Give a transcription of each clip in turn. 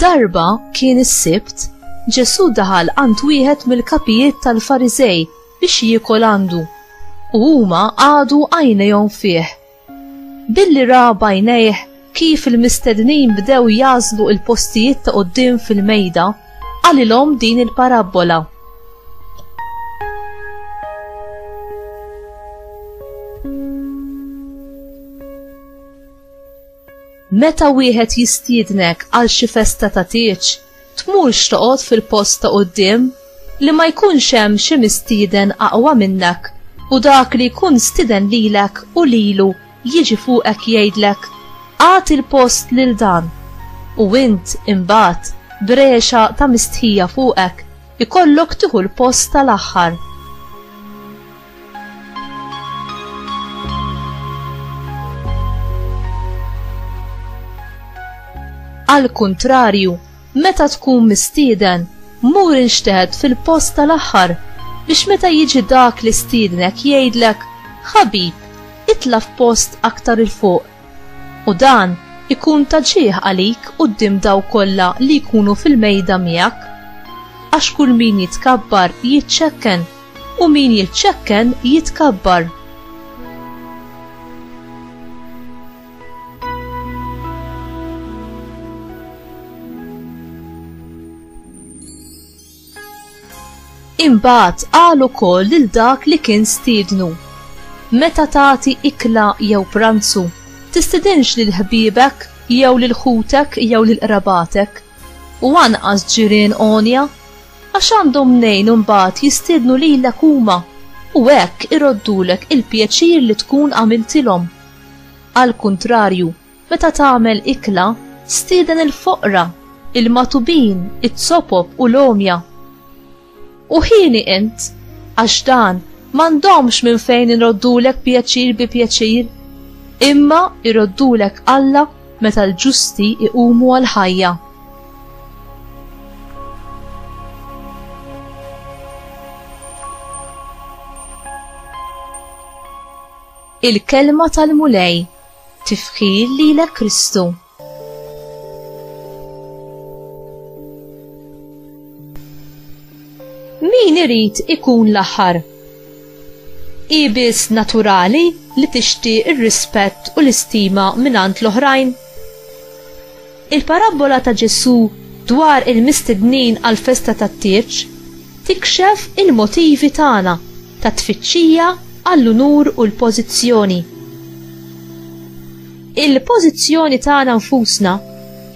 Darba kien is-Sibt, Ġesù daħal għand wieħed mill-kapijiet tal-Fariżej biex jiekol għandu, u huma qagħdu għajnejhom fih. Billi ra b'għajnejh kif il-mistednin bdew jagħżlu l-postijiet ta' quddiem fil-mejda, qalilhom din il-parabbola. Meta wieħed jistiednek għal xi festa ta' tieġ, tmurx toqgħod fil-post ta' quddiem li ma jkunx hemm xi mistieden aqwa minnek u dak li jkun stiden lilek u lilu jiġi fuqek jgħidlek, Agħti l-post lil dan! U int, imbagħad, b'regħxa ta' mistħija fuqek, ikollok tieħu l-post tal-aħħar. Għall-kuntrarju, meta tkun mistieden, mur inxteħed fil-post tal-aħħar biex meta jiġi dak li stiednek jgħidlek, ħabib, itla' f'post aktar il fuq. U dan ikun ta' ġieħ għalik quddiem daw kollha li jkunu fil-mejda miegħek. Għax kull min jitkabbar jiċċekken U min jiċċekken jitkabbar. Imbagħad qal ukoll lil dak li kien stiednu. Meta tagħti ikla jew pranzu, tistidinx lil ħbiebek jew lil ħutek jew lil qrabatek u anqas ġirien għonja Għax għandhom mnejn imbagħad jistiednu lilek huma u hekk iroddulek il-pjaċir li tkun għamiltilhom. Għall-kuntrarju, meta tagħmel ikla, stieden il-foqra, il-magħtubin, iz-zopop u l-għomja. U hieni int, għax dan m'għandhomx minn fejn iroddulek pjaċir bi pjaċir, imma jroddulek Alla meta l-ġusti jqumu għall-ħajja. Il-kelma tal-Mulej tifħir lilek Kristu. Min irid ikun l-aħħar? Ibis naturali li tixtieq ir-rispett u l-istima mingħand l-oħrajn? Il-parabbola ta' Ġesù dwar il-mistednin għall-festa tat-tieġ tikxef il-motivi tagħna ta' tfittxija għall-unur u l-pożizzjoni. Il-pożizzjoni tagħna nfusna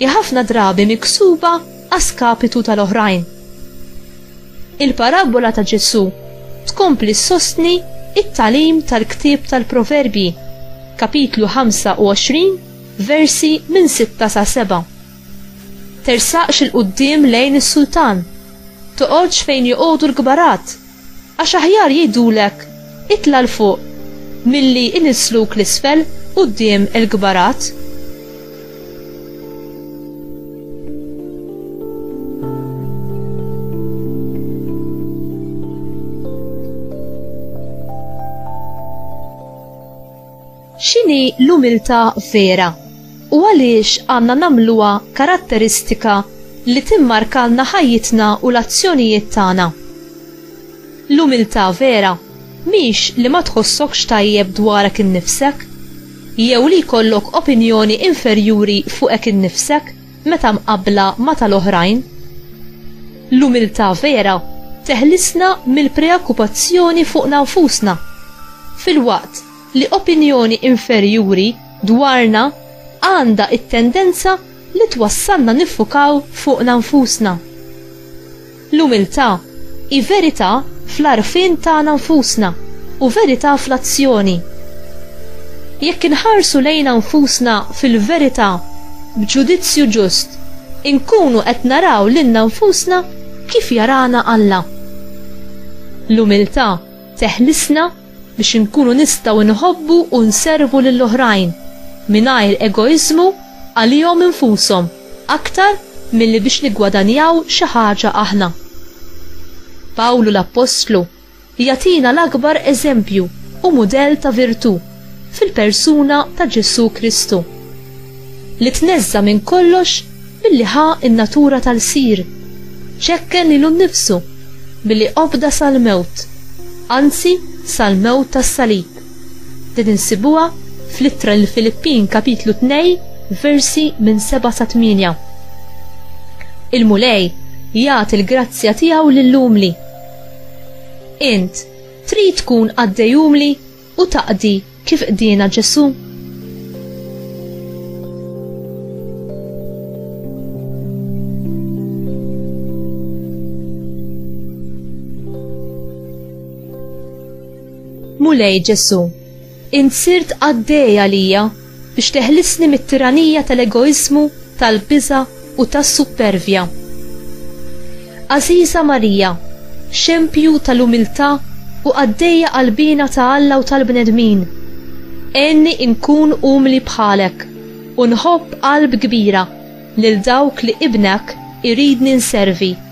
hi ħafna drabi miksuba a skapitu tal-oħrajn. Il-parabbola ta' Ġesù tkompli ssostni t-tagħlim tal-ktieb tal-Proverbji, kapitlu 25, Versi minn sitta sa seba'. Tersaqx 'il quddiem lejn is-sultan, toqgħodx fejn joqogħdu l-kbarat, għax aħjar jgħidulek, 'Itla' 'l fuq, milli jnissluk 'l isfel quddiem il-kbarat. X'inhi l-umiltà vera, u għaliex għandna nagħmluha karatteristika li timmarkalna ħajjitna u l-azzjonijiet tagħna? L-umiltà vera mhix li ma tħossokx tajjeb dwarek innifsek, jew li jkollok opinjoni inferjuri fuqek innifsek meta mqabbla ma' tal-oħrajn. L-umiltà vera teħlisna mill-preokkupazzjoni fuqna nfusna, filwaqt li opinjoni inferjuri dwarna għandha t-tendenza li twassalna niffukaw fuqna nfusna. L-umiltà hi verità fl-għarfien tagħna nfusna u verità fl-azzjoni. Jekk inħarsu lejna nfusna fil-verità b'ġudizzju ġust, inkunu qed naraw lilna nfusna kif jarana Alla. L-umiltà teħlisna biex inkunu nistgħu nħobbu u nservu lil oħrajn, mingħajr egoiżmu għalihom infushom aktar milli biex niggwadanjaw xi ħaġa aħna. Pawlu l-appostlu jagħtina l-akbar eżempju u mudell ta' virtù fil-persuna ta' Ġesù Kristu, li tneżża' minn kollox Billi ħa n-natura tal-Qsir, ċekken lilu nnifsu billi obda sal-mewt, anzi sal-mewt tas-salib. Din insibuha fl-Ittra lill-Filippin kapitlu tnej versi minn seba' sa tmienja. Il-Mulej jagħti l-grazzja tiegħu lill-umli. Int trid tkun qaddej umli? u taqdi kif qdiena Ġesù? Mulej Ġesu, int sirt qaddej għalija biex teħlisni mit-tiranija tal-egoiżmu, tal-biża' u tas-suppervja. Għażiża Marija, xempju tal-umiltà u qaddejja qalbiena ta' Alla u tal-bnedmin, għenni inkun umli bħalek u nħobb qalb kbira lil dawk li Ibnek iridni nservi.